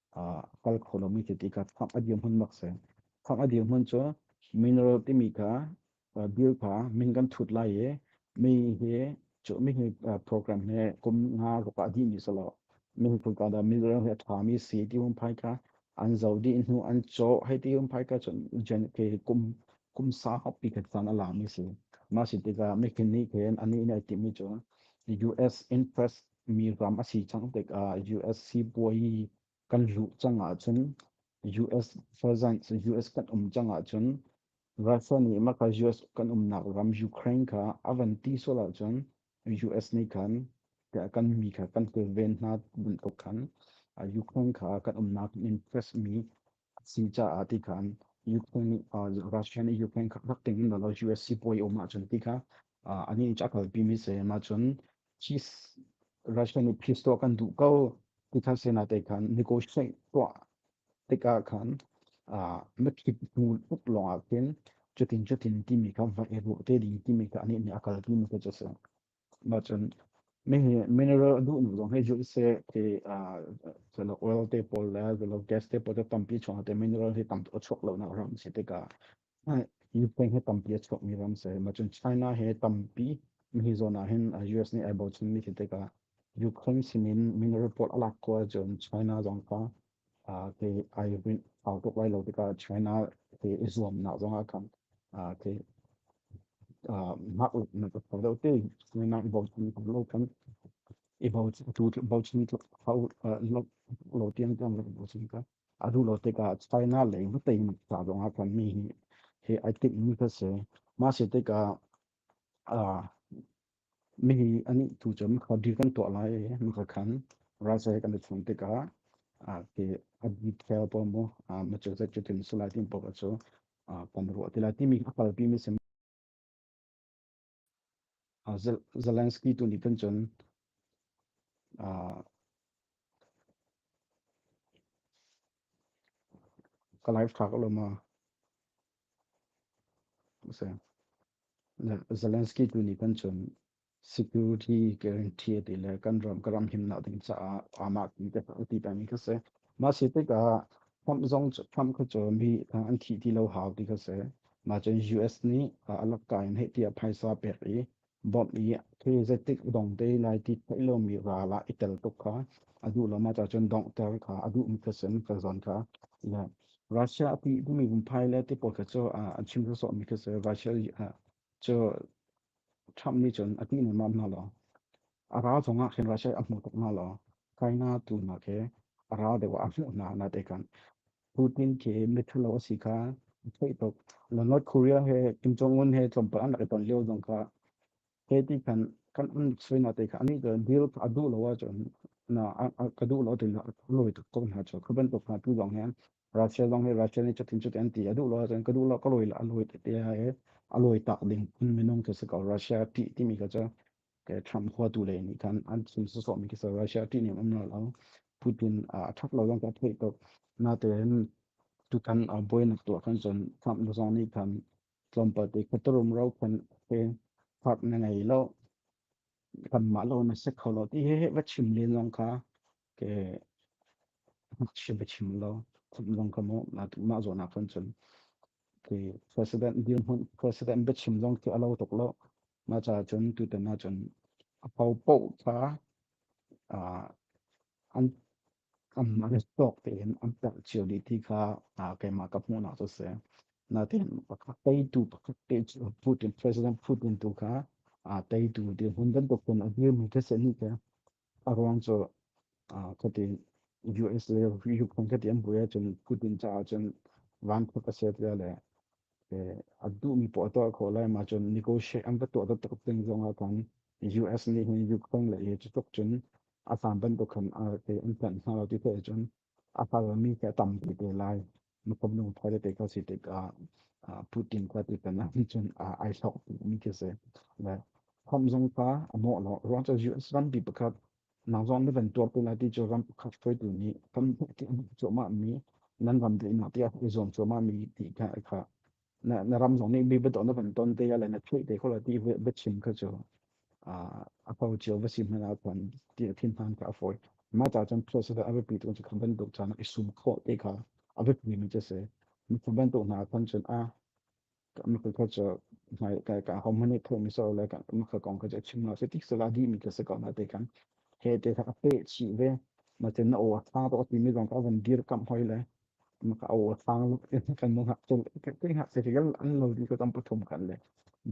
a kal kho lomi cu tikah fak a dirhmun bak si. Fak a dirhmun cu mineral timi kha bil kha min kan thut lai i mi hi cu mi hi program he kum nga ruk ah dih mi si lo min kum ka da mineral he tha mi si ti um phai ka an zo di hnu an cho hei ti um phai ka chun jen ke kum kum sa hop pi khat san ala mi si ma si tikah mi khin ni khen ani ne ti mi chu US interest mi ram a si cang tikah US sibawi kan luh cang ahcun US for example US kan um cang ahcun Russia nih maka US kan umnak ram Ukraine kha a van ti sual ahcun US nih khan kan mi kha kan kilven hna bantuk khan Ukraine kha kan umnak in press mi si caah ti khan Ukraine nih Russia nih Ukraine kha rak ting hna law US sipuai um ahcun ti kha an in a kalpi mi se ma cun Russia nih peace tuah kan duh ko ti khan sena te khan negotiate tuah tikah khan matrik hnu tuk lawngah khin cutin cutin timi kha va e ruh te ding timi kha ani nih a kalpi mi kha cu a si. Macun mineral a duhnu zong hei zulh seh ti zalo oil te pawl le zalo gas te pawl te tampi chungah te mineral hi tam tuk a chuak lonak ram si tikah Ukraine he tampi a chuakmi ram si. Macun China he tampi hi zawn ahhin US nih ai bochanmi si tikah Ukraine sinin mineral pawl a lak ko ahcun China zong kha ke ai rinh au tuk lai lo tikah China ke i zuam nak zong ah khan ke mah na ka pau te ni nang bo chin ko lo kan i bo chin tu bo chin tluk hau lo tiang tiang lo bo chin ka adu lo te ka China lei mu te ta zong ah kan mi hi he ai tik mi ka se ma se te ka Mihi an tu cun maka deal kan tuah lai i maka khan raja kan i chun tikah ke a detail pawl mu ma cu zat cu tin sulai tin pok cu pom ruah tila timi a palpi mi sim Zelensky tu nih kan cun ka live track lo ma Zelensky tu nih kan cun security guarantee a ti le kan ram ka ram himnak ding caah aamah ti te a ti pemi kha si. Mah si tikah Trump zong Trump kha cun hi an thih ti lo hau ti kha si. Mah cun US nih a lak kai in hei ti a phaisa pek i Bob i khi zetik dong te lai ti thai lomi ra la i tel tuk kha a duh lo ma cha cun dongh ter kha a duh mi khasin ka zon kha ya Russia pi mi vumpai le ti pot cho a chim so mi khase Russia cho Trump ni chun a ti ni ma na lo a ra zonga khin Russia a mu tuk na lo China tu na ke a ra de wa a mu na na te kan Putin ke mithalo a si kha thei tuk na North Korea he Kim Jong Un he tlawmpal an rak i ton lio zong kha he ti khan kan an soi na te kha ani to deal ka du lo wa chon na ka du lo te na loi tuk ko na cho khaban to na tu dong he Russia dong he Russia ni chatin chatin ti adu lo chen ka du lo ka loi la loi te te ha he a loi tak ding kun minung ke se ko Russia ti ti mi ka cha Trump huatu le nih khan an chim sawsawh mi khi Russia ṭihning um lo lo Putin a ṭhak lo lang ka theih tuk natein tutan buainak tuah kan cun Trump nu zong nih khan tlawmpal te khuatarum ro khan he fak na ngei lo kan mah lo na sek kho lo ti he va chim len zong kha ke chim chim lo lawng ka mo na tu ma zo na kan chun ke president dir mun president be chim lawng ke alo tok lo ma cha chun tu te na chun a pau pau ta a an am na ne tok te in am ta chiu di ti kha a ke ma ka mo na so se na tin pakak tai tu pakak te Putin president Putin tu kha a tai tu di hun dan to kun a dir mi ke se ni ke Aruang cu kati US le Ukraine kati an buai ahcun Putin caah cun vankhut a si tiah le a duhmi poah a tuah khawh lai ma cun negotiate an va tuah taktak ding zongah khan US nih hin Ukraine le hi cutuk cun a hlan bantuk khan an tlanh hna lo ti theih ahcun a hngalmi khi a tampi te lai. Nukum nung thai te ka si tikah Putin ka ti kana cun ai hlok mi khi si. Le khom zong ka a mawh lo. Ruang cu US ram pi pakhat nang zong na van tuar tu lai ti cu ram pakhat hruai tu nih kan huk ti cu ma mi nan ram te ina ti a zuam cu ma mi ti ka kha na na ram zong nih mi beton na van ton te ya le na thei te khola ti ve be chin ka chu a a pau chiu va si hman a kwan ti a thin han ka a foi ma ta chan process da a repeat kun chu kham ban dok chan i sum kho te ka a be mi mi se mi kham ban to na kon chun a ma ka cho mai ka ka hom mani pho mi so le ka ma ka kong ka chin ma se tik sala di mi ka se ko na te kan he te ka pe chi ve ma chen na o a tha to ti mi dong ka van dir kam hoi le maka aw sang kan mong hak chun kai hak se gal an no di ko tam pathum kan le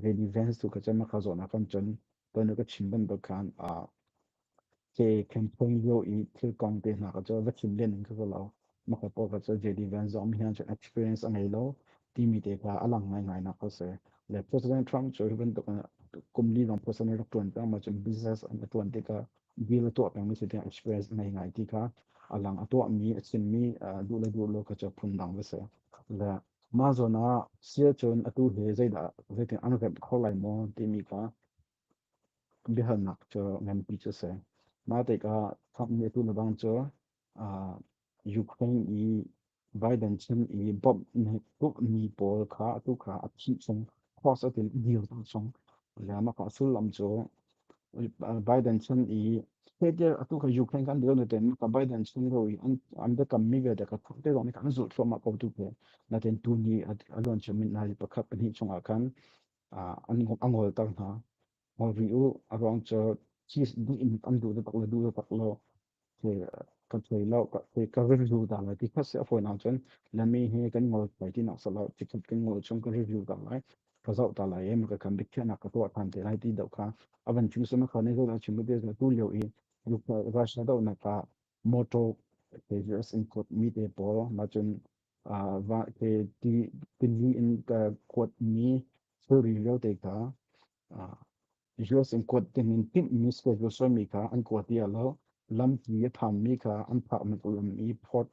veni vans tu ka chama kha zona kan chon ton ka chim ban bakan a ke campaign yo i thil kong te na ka cho va chim len ka lo maka po ka cho JD Vance zo mi han chon experience angai lo timi te ka alang ngai ngai na ka se le President Trump cho ban to kum li long personal rak tuan ta ma chun business an tuan te ka bil a tuah pengmi cu tiah express ngei ngai ti kha a lang a tuahmi a chimmi duh le duh lo kha cu phundang va si le mah zawn ah sia cun atu he zeidah zeitin an remh kho lai maw timi kha biahalnak cu nganpi cu si mah tikah thakmi atu na bang cu Ukraine i Biden chan i bawmhmi pawl kha atu kha a thih chung force a tin dirter chung maka sullam cu Biden chan i heter atu kha Ukraine kan dil natin ka Biden chan ro i an biakammi vialte ka thute zong kan zulh thluahmah ko tu ke natin tuni a luan min hna pakhat pahnih chungah khan a ngol tar hna ngol ri u a ruang cu chi duh in an duh le bak le duh le bak lo ka thei lo ka thei ka review da lai ti khas a fawi na cun lami he kan ngol pai ti nak sala ti khat kan ngol chung ka review da lai ka zau ta lai em ka kan dikhiah nak ka tuah than te lai ti dau kha avan chung sama kha ne zo na chim te tu lio i Russia do na ka moto pagers in kot mi te pawl ma cun va te ti tilli in ka kuat mi thilri reo te ka US in kuat ding in tinhmi schedule soimi kha an kuat i lo lampi a thanmi kha an phak man ulam i port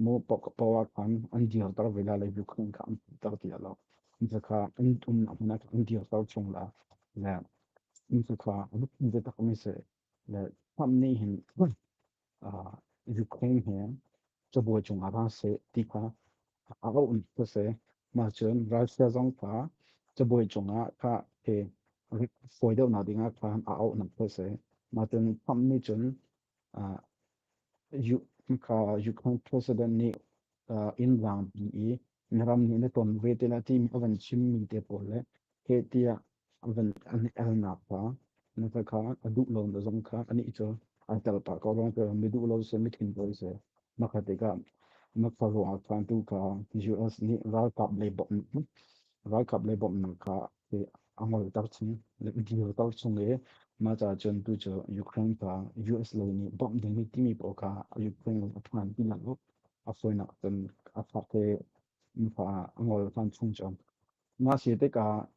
mo powa khan an dir tar vela le bu khan kha an tar ti lo zakha an um amnak an dir tar chung la la in zakha rup in zatak mi se le hnam nih hin Ukraine he cabuai cung ah ra se ti kha a auh ka se mah cun Russia zong kha cabuai cung ah ka he fawi deuh nak ding ah khan a auh nak ka se mah cun Trump nih cun Ukraine president nih inn vang i na ram nih na ton ve te na ti mi a van chim mi te pawl le heh tiah a van an i elnak pa na ka kha a duh lo na zong kha ani cu a tel pa ko rong ka mi duh lo se mi thin ko se ma kha te ka na fa ro a khan tu ka US ni ralkap le bom ralkap le bom na ka a ngol tar chung le deal tar chung le ma cha chun tu chu Ukraine ka US lo ni bom ding mi timi po ka Ukraine a phan tin la a foi na tan a fa te fa ngol khan chung chon Mah si tikah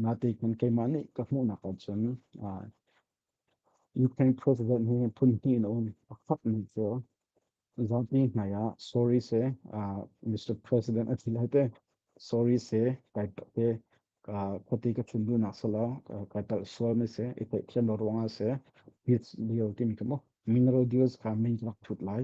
natik man keimah nih ka hmuhnak ahcun Ukraine president hi phun hnih in a um. A khat mi cu zapi hmai ah sorry se Mr. President a thil hate sorry se kai te ka khuati ka chun du nak sala kai tal sual me se i te thian lo ruang se hit dio timi kamo mineral deals ka min lak thut lai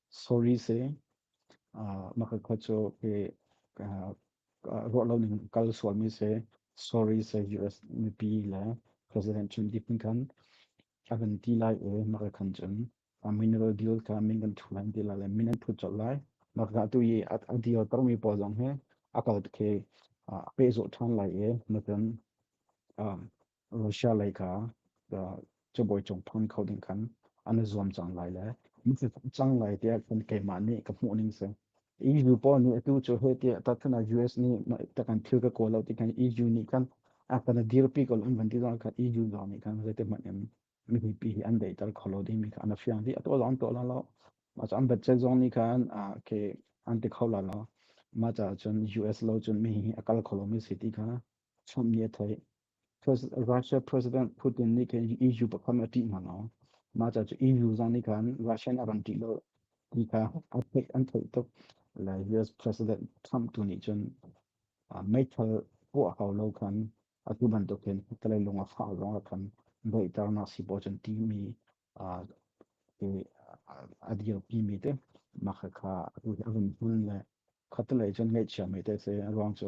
sorry si maka kho cu ke ruah lo ning kal sualmi si sorry si US mipi le president chun dipin khan akan ti lai e maka khan chun mineral deal kha min kan thu lai ti lai le min an phut chol lai maka tu yi a deal tarmi pawl zong he akal ke pe zo than lai e matan Russia lei kha cubawi cung phang kho ding khan an zuam cang lai le cang lai tiah kan keimah nih ka hmuh ning si EU pawl nih atu cu hei tiah tatkana US nih takan thil ka kawl lo ti khan EU nih khan a kana dirpi ko um van ti zong khan EU zong nih khan zeitihmanh in mihi pi hi an deitar kho lo ding mi kha an fiang di ato zong to la lo ma cha an bachet zong nih khan a ke an ti kho la lo ma cha cun US lo cun mi hi akal kho lo mi si ti kha chom ni thoi Russia President Putin nih khin EU pakhat a ṭih hna lo. Mah ca cu EU zong nih khan Russia in a ran ṭih lo ti kha a theih an theih tuk. Le US President Trump tu nih cun meithal puah hau lo khan atu bantuk hin taleilung a fah zong ah khan daihternak sibawi cun timi a dirpi mi te mah khakha atu hi a vun hmun le khatalei cun ngeihchia mi te a si ruang cu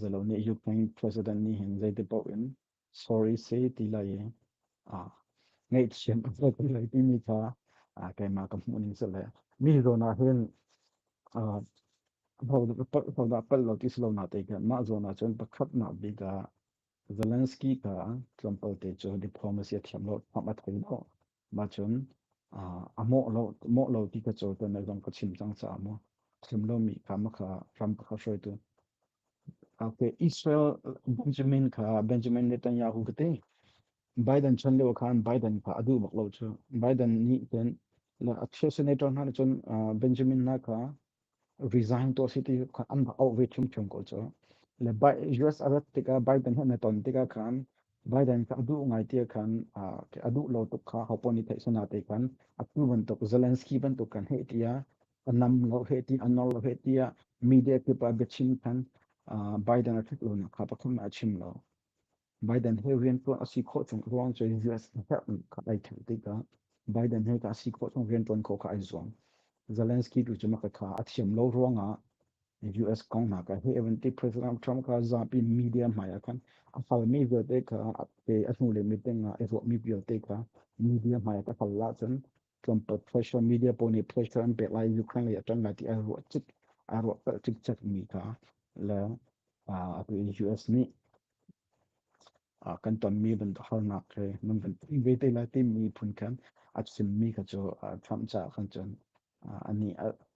Zalo nih Ukraine president nih hin zeiti paoh in sorry se ti lai i ngaihthiam a hlawt ti lai timi kha keimah ka hmuhning sih le mi zawn ah hin hodah palh lo ti si lo na te khin mah zawn ah cun pakhatnak bik ah Zelensky kha tlawmpalte cu diplomacy a thiam lo, thawng a thei lo. Mah cun a mawh lo mawh lo ti ka caw tuan zong ka chim cang caah maw chim lomi kha ma kha Trump kha hruaitu Okay, Israel Benjamin kha Benjamin Netanyahu ka te Biden chan leo khan Biden kha adu bak lo chu Biden nih ten a chair senator hna cun Benjamin na kha resign to si ti khan an rak auh ve ṭhiamṭhiam ko cu le US a rat tikah Biden he na ton tikah khan Biden kha a duh ngai tiah khan a duh lo tuk kha hopo nih theihsana te khan atu bantuk Zelensky bantuk kan he tiah a nam lo he ti a nor lo he tiah media kip a biachim khan Biden a ṭhut lo nak kha pathum a chim lo. Biden he riantuan a si khawh chung ruang cu US herh kha ai ṭhen tikah Biden he ka si khawh chung riantuan khawh kha ai zuam. Zelensky tu cu maka kha a thiam lo ruangah US kong hna ka he eventually President Trump ka zapi media hmai ah khan a halmi vialte kha te a hnu le meeting ah i ruahmi vialte kha media hmai ah ka hal la cun tlawmpal social media pawl nih pressure an pek lai Ukraine lei a ṭang lai ti a ruah cik a ruah cikcek mi kha le US nih kan tonmi harnak he nan van ve te lai timi phun khan a chimmi kha cu Trump caah khan cun ani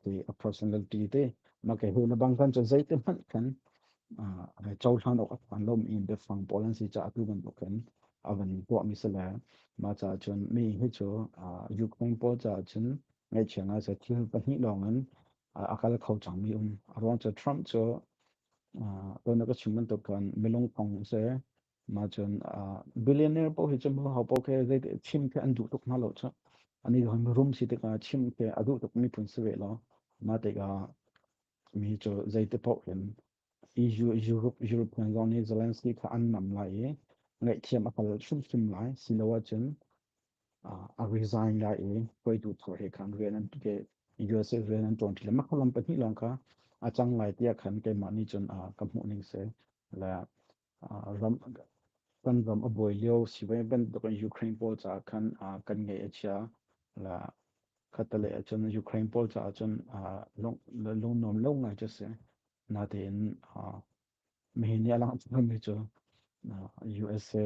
te a personality te na ke na bang khan cun zeite hmanh khan cohlan awk an lom in biafang pawl an si caah tu bantuk khan a van tuah mi se le ma ca cun mi hi cu Ukraine pawl caah cun ngaihchiang a si thil pahnih lawng in a kal kho cangmi um. A ruang cu Trump cu tuannak a chim bantuk khan milung kong si ma cun billionaire paoh hi cu mu hau paoh khi zei chim khi an duh tuk hna lo cu ani hon rum si tik ah chim khi a duh tuk mi phun si ve lo ma tik ah mi cu zei te paoh hin Europe hna zong nih Zelensky kha an nam lai i ngaihthiam a kal hrimhrim lai si lo ahcun a resign lai i hruaitu thar he khan rian an USA rian an ṭuan ṭhan makhalam pahnih lawng kha a cang lai tiah khan keimah nih cun ka hmuh ning si. Le ram kan ram a buai lio sivai bantuk in Ukraine pawl caah khan kan ngeih a chia la khata le cun Ukraine pawl caah cun lungnuam lo ngai cu si natein mihin nih a lang chungmi cu USA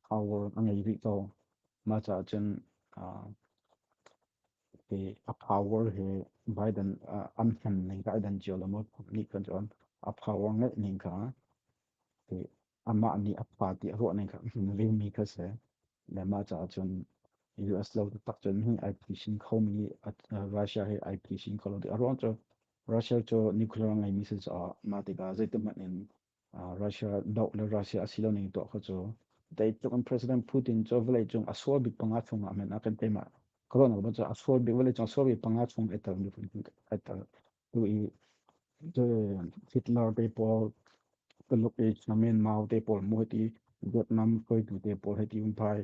power a ngei rih ko mah caah cun a power hi Biden an hman ning kha ai dan cio lo maw nih kan cun a power ngeih ning kha amah nih a party a ruah ning kha ringmi kha si le mah caah cun US lo tak cun hi ai pishin khomi Russia hi ai pishin kholo a ruang cu Russia cu nuclear ngeimi si caah mah tikah zeitikhmanh in Russia doh le Russia a si lo ning tuah kha cu dai tluk in President Putin cu vawlei cung a sual bik panga chung ah men a kan teima kalo nak bacha a sual bik vawlei cung a sual bik panga chung e tar mi kun e tar tu i Hitler te paul tuluk e chamen mau te paul mu ti Vietnam koi tu te paul he ti um pai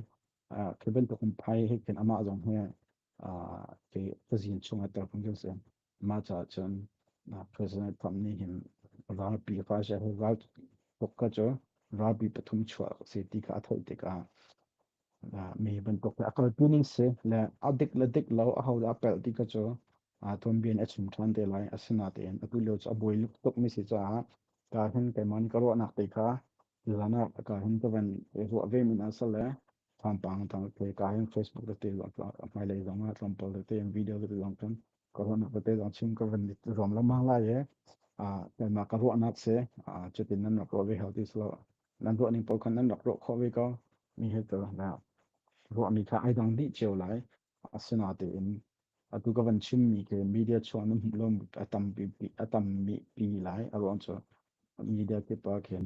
keben tuk um pai he ken ama zong he ke ka zin chung e tar kun se Mah caah cun President Trump nih hin ralpi ka si ral tuk ka cu ralpi pathum chuah a si ti kha a thoh tikah mi bantuk a kalpi ning si le a dik le dik lo a ho dah a pelh ti ka cu tuanbia a chim ṭhan te lai asinain atu lio cu a buai tuk mi si caah ka hin keiman ka ruahnak te kha zan ah ka hin ka van ruah ve min a si le thampang tang te ka hin Facebook le te a hmailei zong ah tlampal le te video le te zong kan ka van pate dang chim ka van it rom la mang lai e a ma ka ruah nak se a chetin nan rak ro ve healthy so nan ruah ning pol khan nan rak ro kho ve ko mi he to na ruah ni tha ai dang di cheu lai asina te in atu ka van chim mi ke media chuan nam lom atam pi atam mi pi lai aron cho media ke pa khen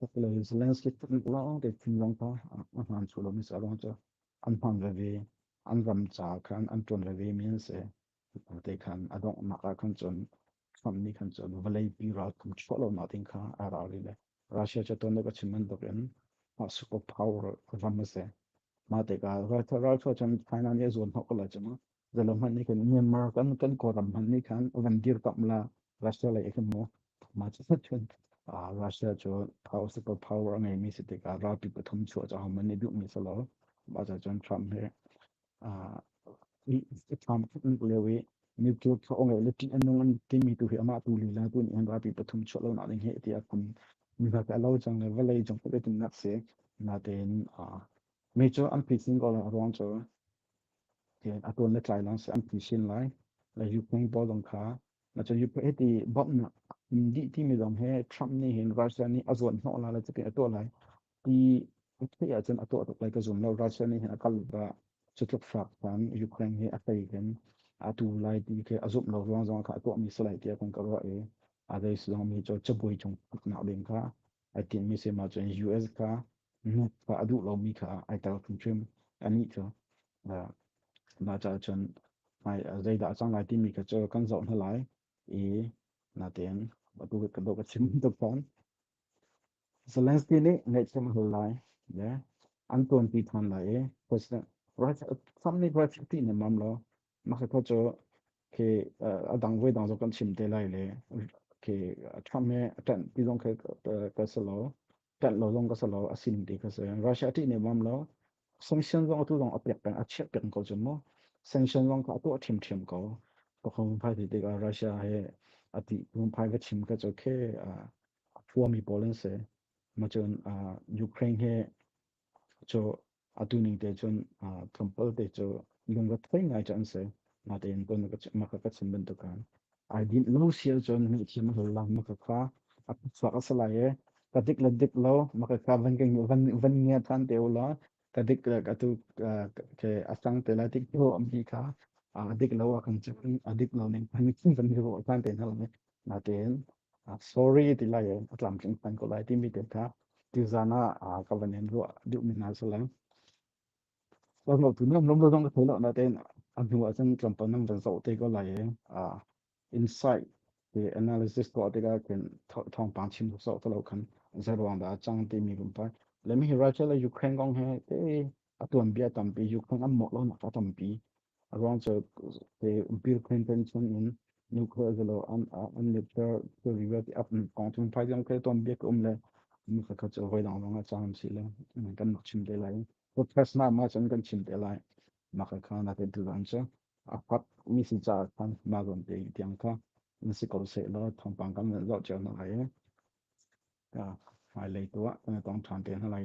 Hopefully Zelensky tuk lawng te thin long ta a hman chu lo mi sa long cha an hman ve ve an ram cha khan an ton ve ve min se te khan adong ma ka khan chon Trump ni khan chon valei pi ral kum chho lo na tin kha a ra ri le Russia cha ton ka chiman dok en ma super power ram se ma te ka rai rai cho chan China ni zo no ko la chama Zalo hmanh nih khan Myanmar kan kan kawlram hmanh nih khan van dir tam la Russia lei kan mo ma chu sat chun Russia chu house of power a ngei mi si tikah ralpi pathum chu a chang man ni duh mi salo ma cha chun Trump he Trump leo i nuclear kha ong le tin anung an ti mi tu hi ama tu li la tu ni an rapi pathum chho lo na ding he ti akun mi ha ka lo chang le valei jong ko tin nak se na ten a me cho an phi sin ko la ruang cho a tuan le tlai lang si an pi sin lai la Ukraine ball dong kha na cha Ukraine ti bom na di ti mi dong he Trump ni hin Russia ni a zuan no la la chake a to lai ti thi a chen a to lai ka zum lo Russia ni hin a kal ba chutluk frak tan Ukraine hi a tai ken a tu lai ti ke a zup lo ruang zong kha to mi slai tia kon ka ro e adai song mi cho chaboi chung na ding kha ai tinhmi sem ahcun US kha nu kha a duh lomi kha ai tel hrimhrim anih cu mah caah cun zeidah a cang lai timi kha cu kan zoh hna lai i natein ka dawh ka chim tuk fawn Zelensky nih ngaihthiam a hul lai le an tuanti than lai i President Framni Brexit ti nemam lo Maksetho cu khi a dang voi dang zo kan chim te lai le khi Trump he ṭanh ti zong khi ka si lo ṭanh lo zong ka si lo a sin ti ka si Russia ṭih ne bam lo sanction zong atu zong a pek peng a chiah peng ko cu mu sanction zong ka atu a thim thim ko ka khong phai ti tikah Russia he a ti khong phai ka chim ka cu khi thuami pawl an si ma cun Ukraine he cu atu ni te chun kampal te chu lungga thoi ngai cha an se na te in ton ma ka ka chim ban tu kan ai din lo sial chon ni thi ma la ma ka kha a sa ka salai e ka dik la dik lo ma ka ka van ke van van nge than te la ka dik ka tu ke asang te la dik to am hi kha a dik lo a kan chim a dik lo ning kan kin van ro tan te na la Natin sorry ti lai in a tlamtling hman ko lai timi te kha tizan ah ka van in ruah duh mi hna si lai. Wel lo tu nam lom lo dong thei lo natin a hnu ah cun tlawmpal nam van zoh te ko lai i insight te analysis ko te ka kin thong pang chin so to lo kan zeruang da chang ti mi rum pa let me write la Ukraine kong he te a tuanbia tampi Ukraine an mawk lonak a tampi a ruang cu te Bill Clinton chung in nuclear zalo an an nuclear theory wa ti ap kong chung phai jang ke tuanbia ke um le mi ka chu voi dang long a chang si le kan nok chim te lai protest na ma chan kan chim te lai ma ka kha na te tu ran cha a pak mi si cha kan ma gon te tiang ka na si ko se lo thong pang kan zo chel na lai ka mai lei tu kan tong than te na lai